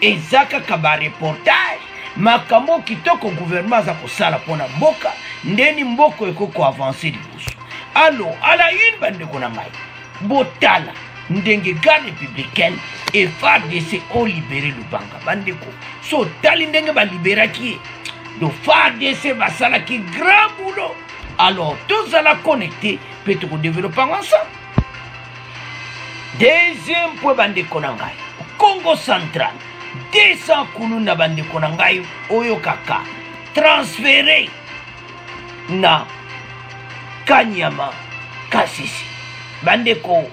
eza kaka bareportage makambo kitoko guvernema aza kosala mpo na mboka ndeni mboka ekoki koavanse liboso alo ala une bandeko na ngai botala ndenge garde républicaine e fardc olibere lubanga bandeko so otali ndenge baliberaki ye do fardc basalaki grand boulot alors tozala connecte mpe tokodevelope yango ensemble deuxième point bandeko na ngai congo central 200 kulu na bandeko na ngai oyokaka transfere na kanyama kasisi bandeko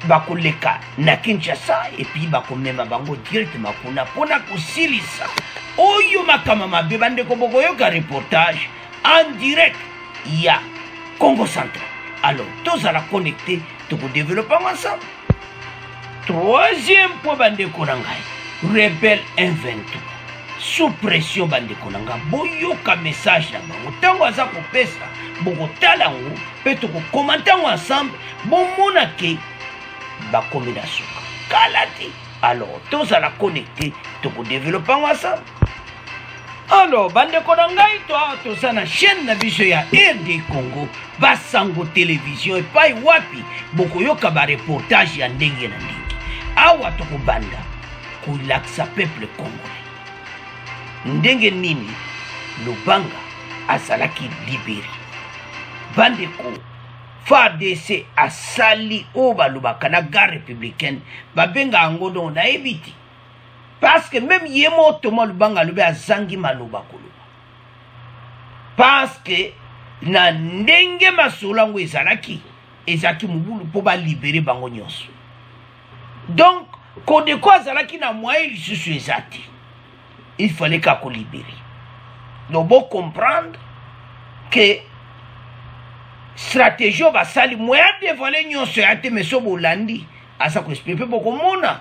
bakoleka na kinshasa epuis bakomema bango directement kuna mpona kosilisa oyo makama mabe bandeko bokoyoka reportage en direct ya congo central alors tozala connecte tokodevelope yango ensemble troisième mpo bandeko na ngai rebel 123 sous pression bandeko na ngai boyoka message na bango ntango aza kopesa bokotala yango mpe tokokoma ntango ensemble bomona ke bakomi na suka kala te alors tozala connecte tokodevelope yango ensemble alors bandeko na ngai to awa toza na chaîne na biso ya rd congo basango televizio epai wapi bokoyoka bareportage ya ndenge na ndenge awa tokobanda kolakisa peuple congolais ndenge nini lubanga azalaki libere bandeko fardc asali oyo balobaka na gare républicaine babenga yango dongo nayebi te parce que meme ye moko toma lubanga alobi azangi maloba koloba parce que na ndenge masolo yango ezalaki ezalaki mobulu mpo balibere bango nyonso donc kodeko azalaki na moyen lisusu eza te il fallait kaka kolibere donc bocomprendre ke stratégie oyo basali moyen adevoile nyonso ya te meso bolandi aza koexplike mpe bokomona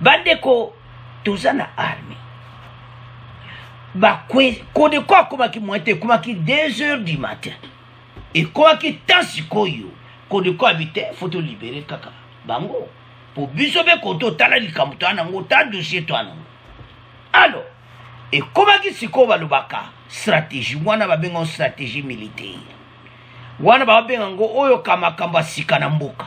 bandeko toza na arme bakwe kodeko akomaki mwa te ekomaki 2 heures du matin ekomaki temps sikoyo kodeko abi te fo tolibere kaka bango mpo biso mpe koto otala likambo toya nango ta dossier toya nango alo ekomaki sikoyo balobaka stratégie wana babenga stratégie militaire wana babenga yango oyo ka makambo ya sika na mboka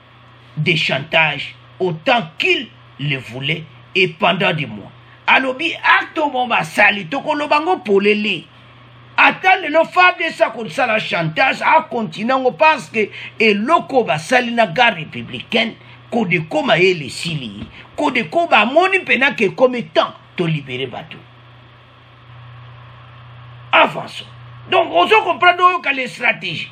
de chantage autant qu'il le voulait et pendant des mois alobi acte omo basali tokoloba ngo polele ata lelo fabs akosala chantage akontinue yango parce que eloko basali na gare républicaine kodeko mayele esili kodeko bamoni mpena ke ekomi temps tolibere bato avançons donc ozo comprendre oyoka le stratégie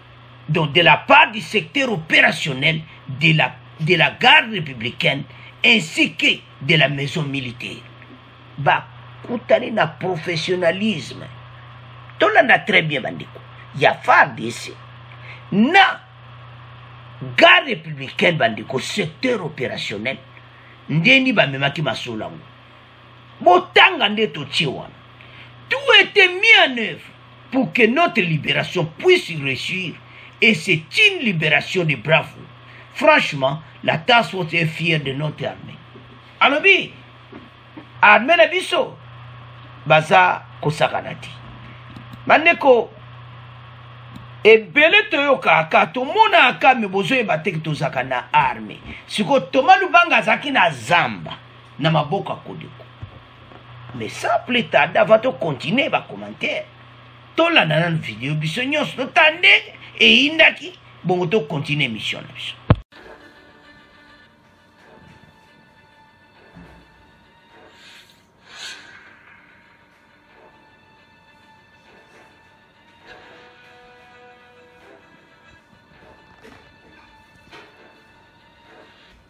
Donc de la part du secteur opérationnel de la, de la garde républicaine ainsi que de la maison militaire. Bah, kutani na professionnalisme tolanda très bien bandeko ya fardc na gare républicaine bandeko secteur opérationnel ndeni bamemaki masolo yango Botanga nde totie wana. Tout était mis en œuvre pour que notre libération puisse réussir et c'est une libération de bravo. Franchement, la task force est fière de notre armée. Alobi, armée na biso, baza kosakana te. Bandeko, ebele toyokaka tomonaka me bozoyeba te tozalaka na arme sikoyo toma lubanga azalaki na zamba na maboko ya kodeko mais sans plus tarde avant tocontinue bacommentaire tolanda nanu video biso nyonso totala ndenge eyindaki bongo tocontinue émission na biso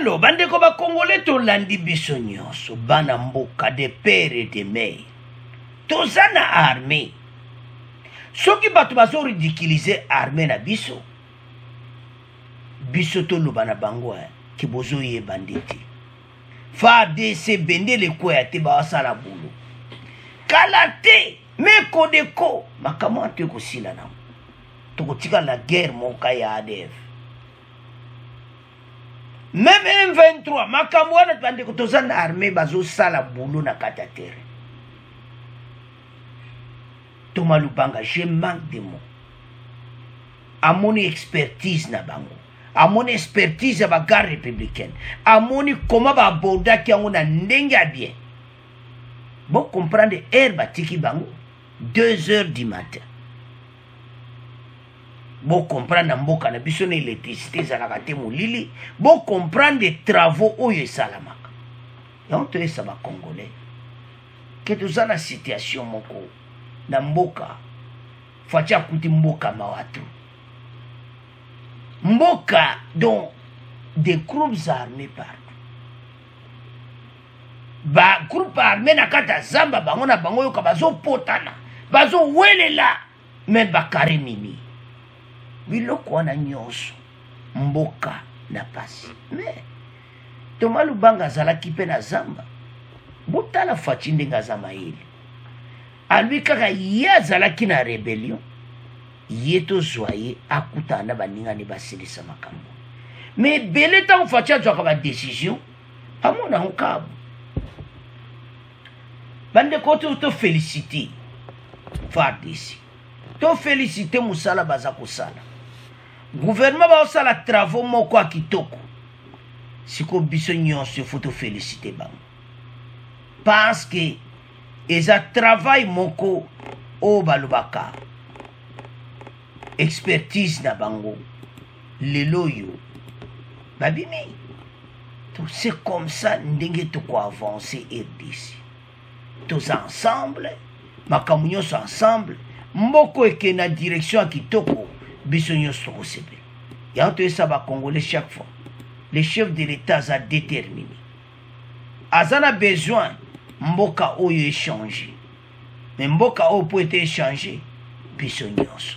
alo bandeko bakongole tolandi biso nyonso bana mboka de pere de mei toza na armée soki bato bazoridikilize armée na biso biso toloba na bango eh, ke bozoyeba nde te fardc bendele ekweya te bawasala bulu kala te meko deko makambo wana to ekosila nango tokotika la guerre moka ya adf meme m23 makambo wana bandeko toza na armée bazosala bulo na kati ya terrain toma lubanga je manque de mot amoni expertise na bango amoni expertise ya bagarde républicaine amoni koma baabordaki yango na ndenge ya bien bocomprendre heure batiki bango 2 heures du matin bocomprendre na mboka na biso na électricité ezalaka te molili bocomprendre travaux oyo esalamaka yango toyesa bacongolais ke toza na situation moko na mboka fatshi akuti mboka mawa to mboka donc des groupes armés partout bagroupe armé na kati ya zamba bango na bango yoka bazopotana bazowelela me bakare mini biloko wana nyonso mboka na pasi me toma lubanga azalaki mpe na zamba botala faci ndenge aza mayele alobi kaka ye azalaki na rebellion ye tozwa ye akutana na baninga nde basilisa makambo ma ebele ntango faci azwaka badecision amona yango kabu bandeko tofelicite fardc tofelicite mosala baza kosala guvernema baosala travaux moko ya kitoko sikoyo biso nyonso efo tofelicite bango parce que eza travail moko oyo balobaka expertise na bango lelo oyo babimi c'est comme ça ndenge tokoavancer rdc toza ensemble makambo nyonso ensemble mboko eke na direction ya kitoko biso nyonso tokosepela yango toyesa bacongolais chaque fois le chef de l'état aza déterminé aza na besoin mboka oyo echange me mboka oyo mpo ete echange biso nyonso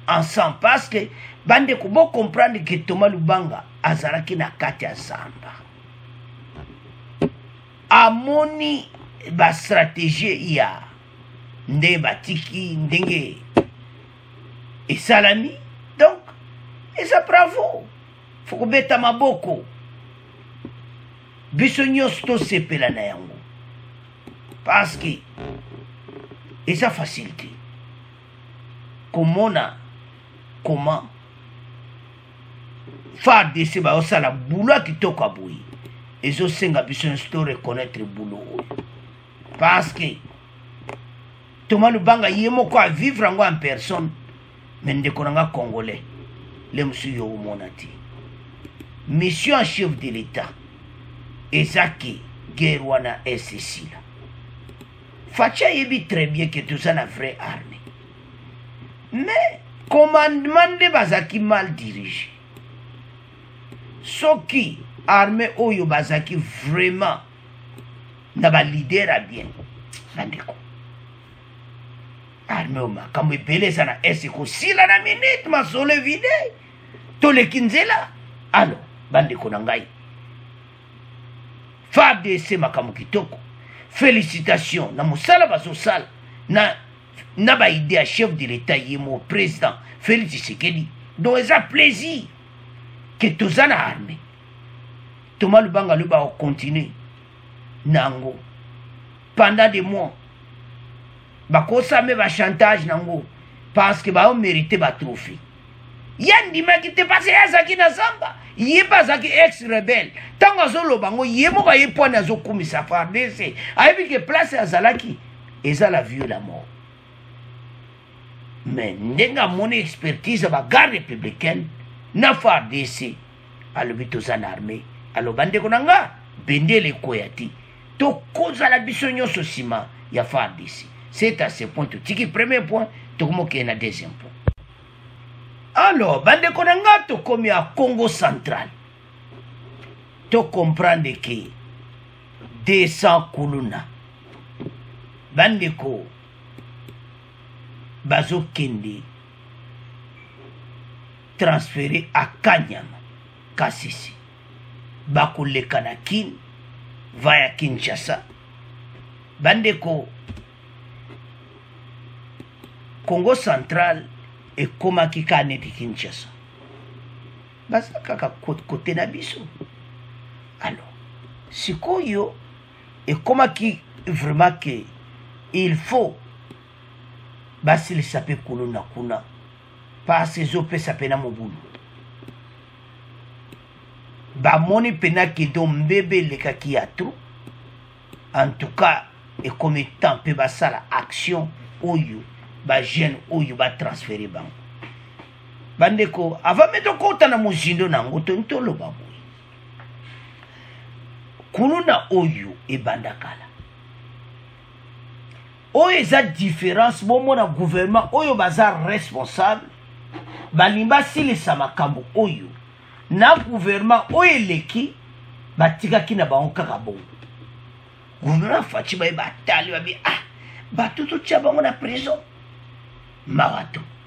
ensemble parce que bandeko bocomprendre ke toma lubanga azalaki na kati ya zamba amoni bastratégie ya nde batiki ndenge esalami donc eza bravo fokobeta maboko biso nyonso tosepela na yango parce que eza facile te komona comment fardc baosala bulo ya kitoko ya boye ezosenga biso nyonso to reconnaitre bulo oyo parce que toma lubanga ye moko avivre yango en personne mais ndeko na nga congolais le mosusu yo omona te mission en chef de l'état eza ke guerre wana esesila faci ayebi très bien ke toza na vraie armée mais commandement nde bazalaki mal dirige soki armée oyo bazalaki vraiment na balider ya bien bandeko armeo makambo ebele eza na est ekosila na minute masolo evide toleki nzela alo bandeko na ngai fardc makambo kitoko félicitation na mosala bazosala na, na baide ya chef de l'état ye mo président félix tshisekedi donc eza plaisir ke toza na armée toma lubanga lobi bakocontinue na yango pendant de mois bakosa mpe bachantage na yango parce que bao merite batrophe ye andimaki te parce ye azalaki na zamba ye mpe azalaki ex rebelle ntango azoloba yango ye moko aye pwani azokumisa fardc ayebi ke place azalaki eza la vieux la mort mais ndenge amoni expertise ya bagarde républicaine na fardc alobi toza na armée aloba ndeko na nga bendele ekoya te tokozala biso nyonso nsima ya fardc c'est à ce point totiki premier point tokomokeye na deuxième point alors bandeko na ngai tokomi ya congo central tocomprendre ke 200 kuluna bandeko bazokende transfere akanyama kasese bakoleka na kin vaya kinshasa bandeko congo central ekomaki kaka neti kinshasa baza kaka kote na biso alo sikoyo ekomaki vraiment ke il faut basilisa mpe kuluna kuna pasi ezopesa mpena mobulu bamoni mpena kedo mbebe elekaki ya tro en tout cas ekomi temps mpe basala action oyo bajeune oyo batransfere bango bandeko avant mpe tokota na mozindo na yango toni toloba boye kuluna oyo ebanda kala oyo eza différence bomona gouvernement oyo baza responsable balingi basilisa makambo oyo na gouvernement oyo eleki batikaki na bango kaka bongo gouvernement faci baye batali babi ah bato totya bango na prison mawa to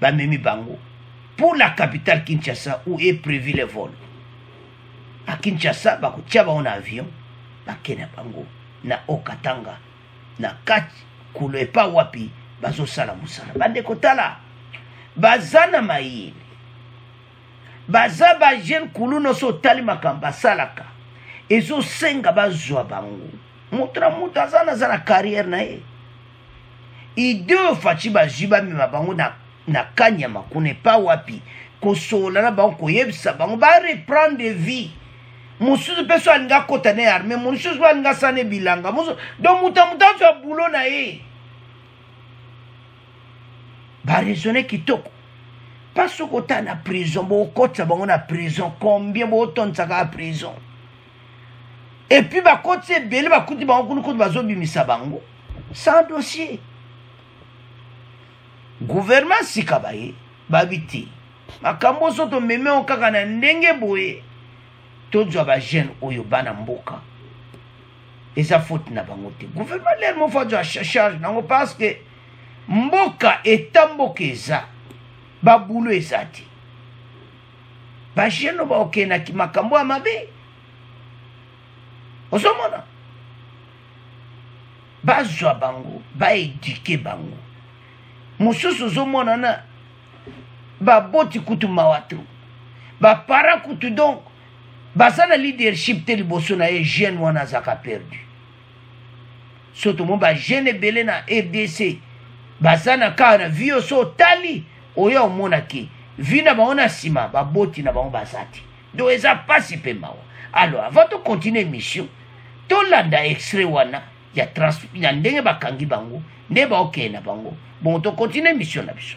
bamemi bango pour la capitale kinshasa où est prévu le vol a kinshasa bakotia bango na avion bake na bango na okatanga na kati kulo epa wapi bazosala mosala bandeko tala baza na mayele baza bajeune kulu nyonso otali makambo basalaka ezosenga bazwa bango moto na moto aza na aza na carrière na ye ideo faci bazwi bamema bango na, na kanyama kuna epa wapi kosolola na bango koyebisa bango bareprendre vie mosusu mpe so alingi akota na ye arme mosusu mpe alingi asala na bilanga mosusu donc moto ya moto azwa bulo na ye baresone kitoko mpa soki ota na prison bokotisa bango na prison combien botondisaka ya prison epuis bakoti ebele bakuti bango kuna kutu bazobimisa bango sans dossier gouvernement sika baye babi te makambo oso tomemi yango kaka na ndenge boye tozwa bajeune oyo bana mboka eza faute na bango te gouvernement lere moko azwa charge nango parce que mboka eta mboka eza babulo eza te bajeno baokee na kimakambo ya mabe ozomona bazwa bango baedike bango mosusu ozomona na baboti kutu mawa to bapara kutu donc baza na leadership te liboso na ye jeune wana azalaka perdu so tomoni bajeune ebele na rdc baza na kaka na vi yo so otali oyo omona ke vi na bango na nsima baboti na bango baza te donc eza mpasi mpe mawa alors avant tocontinue émission tolanda extrait wana ya, trans, ya ndenge bakangi bango nde baokende na bango bongo tocontinue émission na biso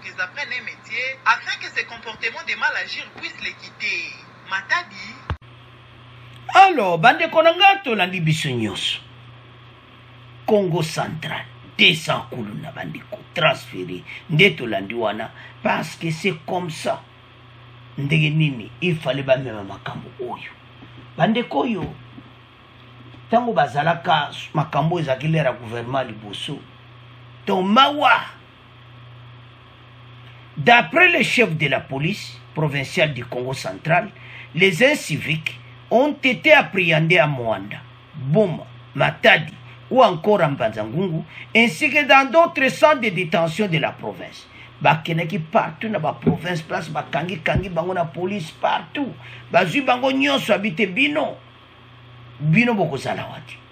Qu'ils apprennent un metier afin que ces comportements de mal agir puissent les quitter. Matadi. Alors, bandeko na ngai tolandi biso nyonso. Congo central 200 kuluna bandeko transféré nde tolandi wana parce que c'est comme ça. Ndenge nini il fallait bamema makambo oyo. Bandeko oyo ntango bazalaka makambo ezalaki lera gouvernement liboso to mawa D'après le chef de la police provinciale du Congo central, les inciviques ont été appréhendés à Moanda, Boma, Matadi ou encore à Mbanzangungu, ainsi que dans d'autres centres de détention de la province. bakendaki partout na baprovince place bakangi kangi bango na police partout bazwi bango nyonso abi te bino bino bokozala wa te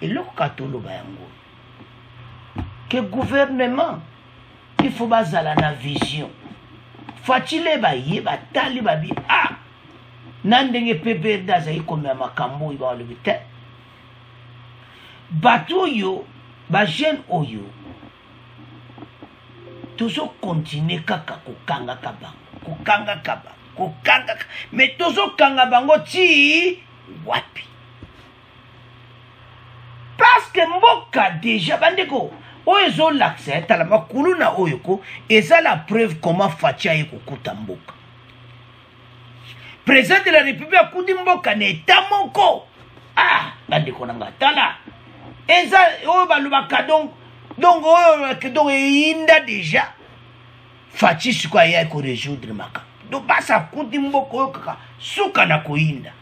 eloko kaka toloba yango ke gouvernement il faut bazala na vision fatile baye batali babi a ah, na ndenge pprd azali komema makambo oyo balobi te bato oyo bajeune oyo tozokontinue kaka kokangaka bango kokangaka bango kokangaka me tozokanga bango ti wapi parceke mboka deja bandeko oyo ezolakisa ya tala makuluna oyo ko eza la preuve comment faci aye kokuta mboka président de la république akuti mboka na eta moko ah bandeko na nga tala eza oyo balobaka donc donc oyo donc eyinda deja faci sikoyo aye koresoudre makambo donc basi akuti mboka oyo kaka suka na koyinda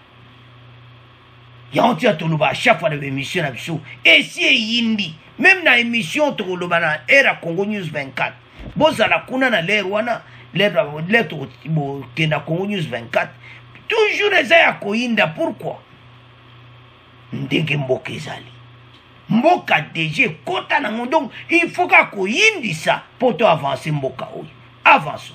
yango ti ya toloba chaque fois na baémission na biso esi eyindi meme na émission tokoloba na aire ya congo news 24 bozala kuna na lere wana lere tokokenda congo news 24 toujours eza ya koyinda pourkui ndenge mboka ezali mboka deja ekota nango donc il faut kaka koyindisa mpo to avanse mboka oyo avanso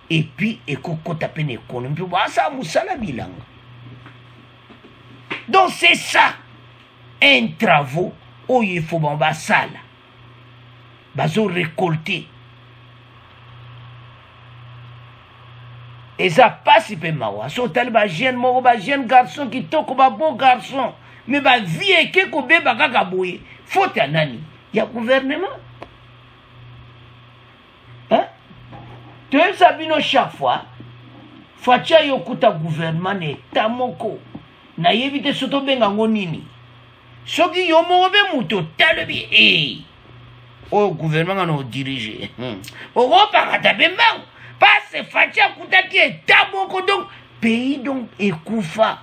epuis ekokota mpe na ekonomi mpe basala mosala bilanga donc c'est ça un travaux oyo efo bango basala bazo récolter eza mpasi mpe mawa so otali bajeune moko bajeune garçon kitoko babeau garçon me bavie eke kobeba kaka boye faute ya nani ya gouvernement hein? toyebisa bino chaque fois faci aye okuta gouvernement na eta moko nayebi te so tobenga yango nini soki yo moko mpe moto otalobi e eh, oyo gouvernement nga na odirige hmm. okopakata mpe mbango pase faci akutaki eta moko donc pays donc ekufa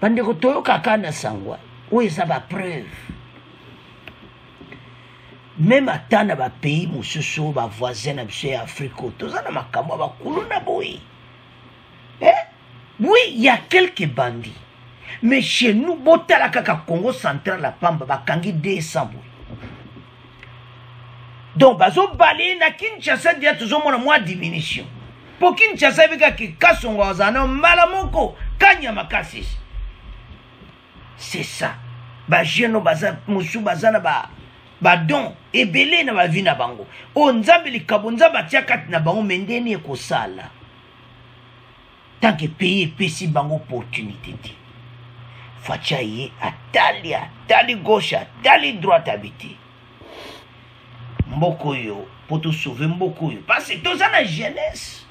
bandeko toyokaka na sangwa oyo eza bapreuve meme ata na bapays mosusu bavoisin na biso ya afrika oyo toza na makambo ya bakulu na boye eh? oui ya quelque bandi mais chez nous botala kaka congo central ya pamba bakangi 200 boye donc bazobala ye na kinshasa dia tozomona mwa diminution mpo kinshasa yebi kaka kasongo azala na mbala moko kanya makasi c'est ça bajeune baza mosusu baza na ba badon ebele na bavi na bango oyo nzambe likabo nzambe atya kati na bango me ndeni ekosala tant que pays epesi bango opportunité te faci aye atali atali gauche atali droite abi te mboka oyo mpo tosauve mboka oyo parce toza na jeunesse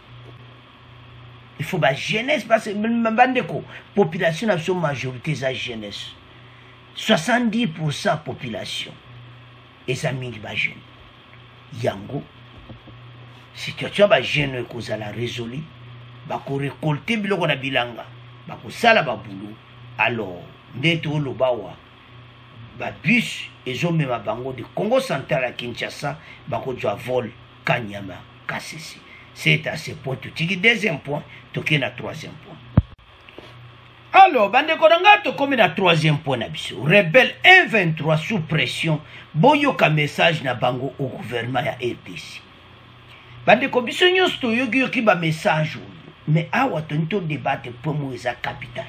il faut ba jeunesse parce bandeko population na biso majorité eza jeunesse 70 pourcent population eza mingi ba jeune yango situation ya ba jeune oyo ekozala résolu bakorekolte biloko na bilanga bakosala babulo alors nde tooloba wa babus ezomema bango de congo central ya kinshasa bakozwa vol kanyama kasese c'est à ce point totiki deuxième point tokei na troisième point alors bandeko na ngai tokomi na troisième point na biso rebelle 123 sous pression boyoka message na bango au gouvernement ya rdc bandeko biso nyonso toyokiyoki bamessage oyo mais awa toni todebate point moko eza capital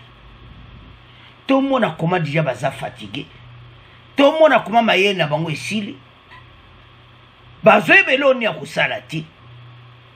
tomona koma deja baza fatigue tomona koma mayele na bango esili bazoyeba eloko nini ya kosala te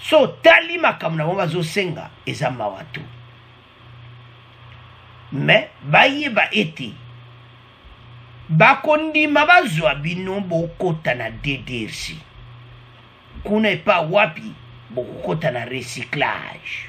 so otali makambo na bango bazosenga eza mawa tu me bayeba ete bakondima bazwa bino bokota na ddrc kuna epa wapi bokokota na recyclage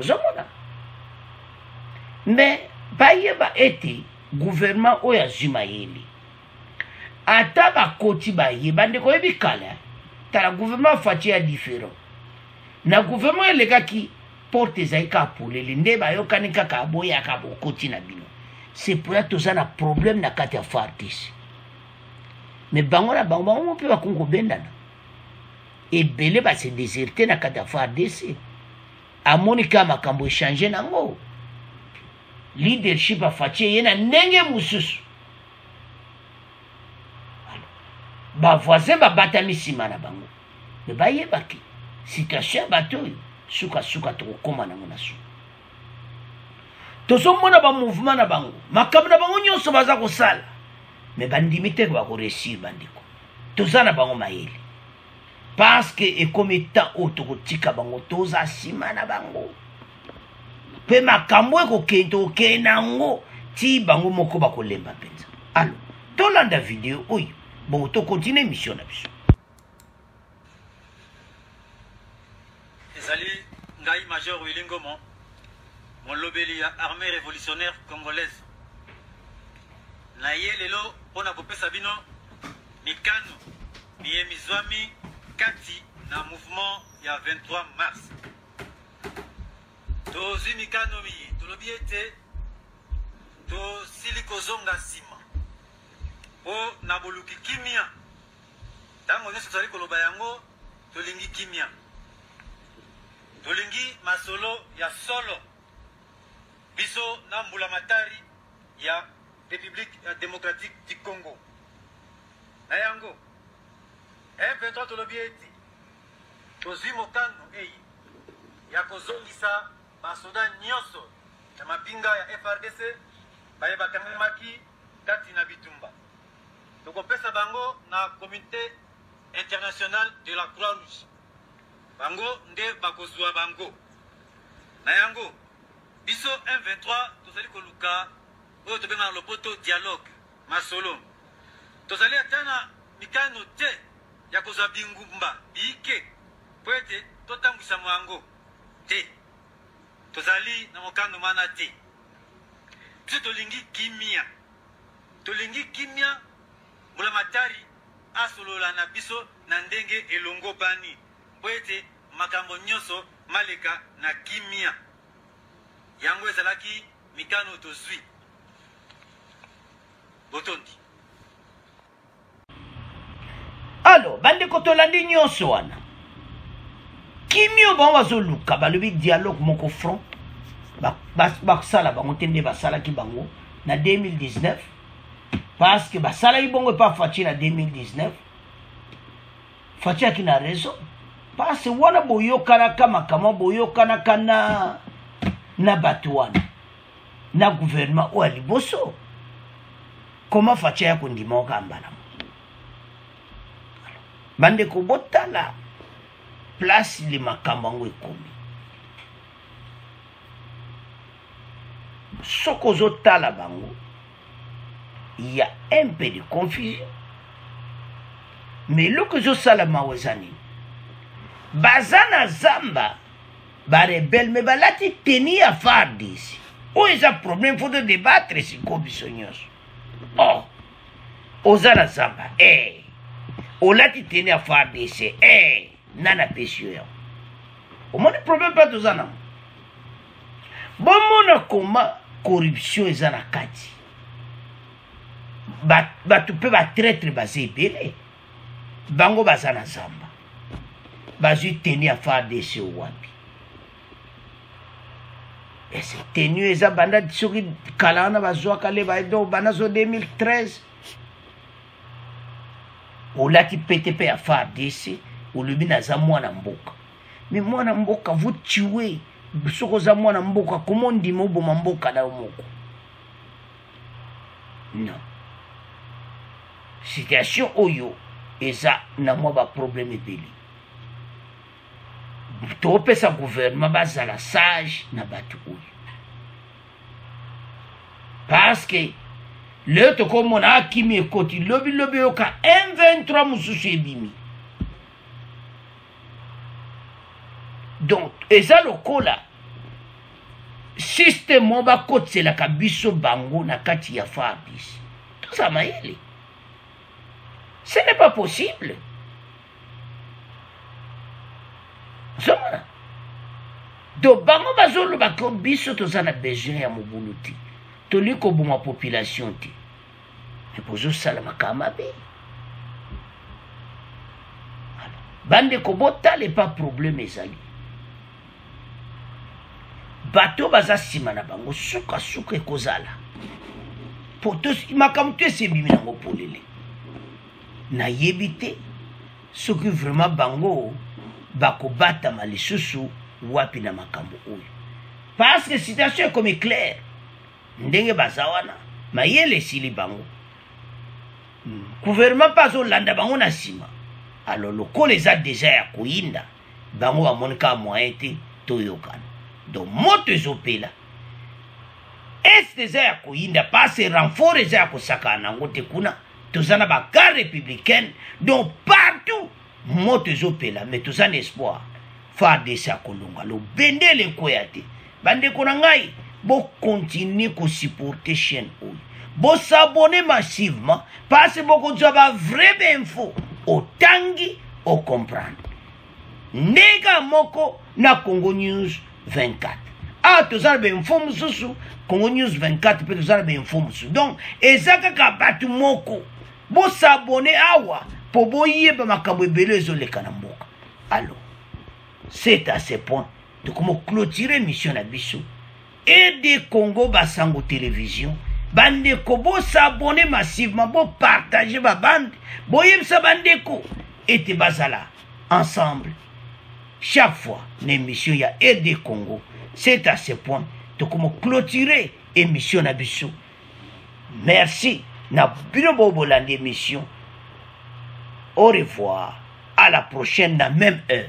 ozomona me bayeba ete guvernema oyo azwi mayele ata bakoti baye bandeko oyebi kala tala guvernema ya faci ya diferent na guvernema oyo elekaki porte ezali kaka polele nde bayokani kaka boyaka bokoti na bino sepoya toza na problème na kati ya fardc me bango na bango bango mpe bakongi kobendana ebele ba se deserte na kati ya fardc amoni kaka makambo echange nango leadership afaci eye na ndenge mosusu bavoisin babatami nsima na bango me bayebaki situation ya bato oyo sukasuka tokokóma nango na suka tozomona bamouvement na bango makambo na bango nyonso baza kosala me bandimi te bakoresir bandeko toza na bango mayele parce que ekomi temps oyo tokotika bango toza nsima na bango mpe makambo ekokende tokende na yango ti bango moko bakolemba mpenza alo tolanda video oyo bongo tokontinue emission na biso Ezali ngai Major Willy Ngomo, molobeli ya Armée Révolutionnaire Congolaise. Na ye lelo mpo na kopesa bino mikano miye mizwami kati na mouvement ya 23 mars. Tozwi mikano miye tolobi ete tosili kozonga nsima mpo na boluki kimia Ntango nyonso tozali koloba yango, tolingi kimia, tolingi masolo ya solo. Biso na mbulamatari ya Republique ya Democratique du Congo, na yango M23 tolobi ete tozwi mokano eye ya kozongisa basoda nyonso ya mapinga ya FRDC baye bakangamaki kati na bitumba. Tokopesa bango na Comite international de la Croix Rouge, bango nde bakozwa bango. Na yango biso M23 tozali koluka oyo tobengaka na lopoto dialogue, masolo. Tozali ata na mikano te ya kozwa bingumba biike mpo ete totambwisama yango te tozali na mokano mana te biso tolingi kimia tolingi kimia mbulamatari asolola na biso na ndenge elongobani mpo ete makambo nyonso maleka na kimia yango ezalaki mikano tozwi botondi alo bandeko tolandi nyonso wana kimio bango bazoluka balobi dialogue moko front basala bango te nde basalaki bango na 2019 parce que basalaki bongo epa faci na 2019 faci aki na raison parce wana boyokanaka makambo boyokanaka na na bato wana na gouvernement oyo ya liboso koma faci aya kondima okamba na bandeko botala place le makambo yango ekomi soki ozotala bango ya un peu de confusion mais eloko ezosala mawa eza nini baza na zamba ba rebelle mais balati teni ya fardc oyo eza problème fo to débattre siko biso nyonso oh oza na zamba e eh. olati teni ya fardc e eh. nani apesi yo yango omoni problème mpe toza nango bomona koma corruption eza na kati bato mpe batraitre baza ebele bango baza na zamba bazwi teni ya fardc wapi ese teni eza banda soki kala wana bazwaka le baedo banda so 2013 olati pete mpe ya fardc olobi naza mwana mboka me mwana mboka vous tue soki oza mwana mboka koma ondima oboma mboka na yo moko non situation oyo eza na mwa baproblème ebele topesa gouvernement bazala sage na bato oyo parce que leo tokomona akimi ekoti lobilobi oyoka m23 mosusu ebimi donc eza lokola système moko bakotiselaka biso bango na kati ya fardis toza mayele ce n'est pas possible ozomona donc bango bazolobaka biso toza na besoin ya mobulu te tolingi koboma population te me bozosala makambo mabe bandeko botala epa probleme ezali bato baza nsima na bango sukasuka ekozala po makambo to esi ebimi nango polele nayebi te soki vraiment bango bakobatama lisusu wapi na makambo oyo parce que situation ekomi claire ndenge baza wana mayele esili bango guvernema mpe azolanda bango na nsima alo lokola eza deja ya koyinda bango bamoni kaka moyen te toyokana donc moto ezopela est eza ya koyinda pase renfort eza ya kosakana na yango te kuna toza na bacar républicaine donc partout moto ezopela me toza na espoir fardc akolonga lobendele ekweya te bandeko na ngai bokontinue kosupporte chaîne oyo bosabone massivement mpasi bokozwa bavrai bainfo otangi ocomprendre ndenge moko na congo news 24 awa toza na bainfo mosusu congo news 24 mpe toza na bainfo mosusu donc eza kaka bato moko bosabone awa mpo boyeba makambo ebele ezoleka na mboka alo c'est à ce point tokoma clôture émission na biso ede congo basango télévision bandeko bosabone massivement bopartage babande boyebisa bandeko ete bazala ensemble chaque fois na émission ya ede congo c'est à ce point tokoma clôture émission na biso merci na bino bo bolandi émission au revoir à la prochaine na même heure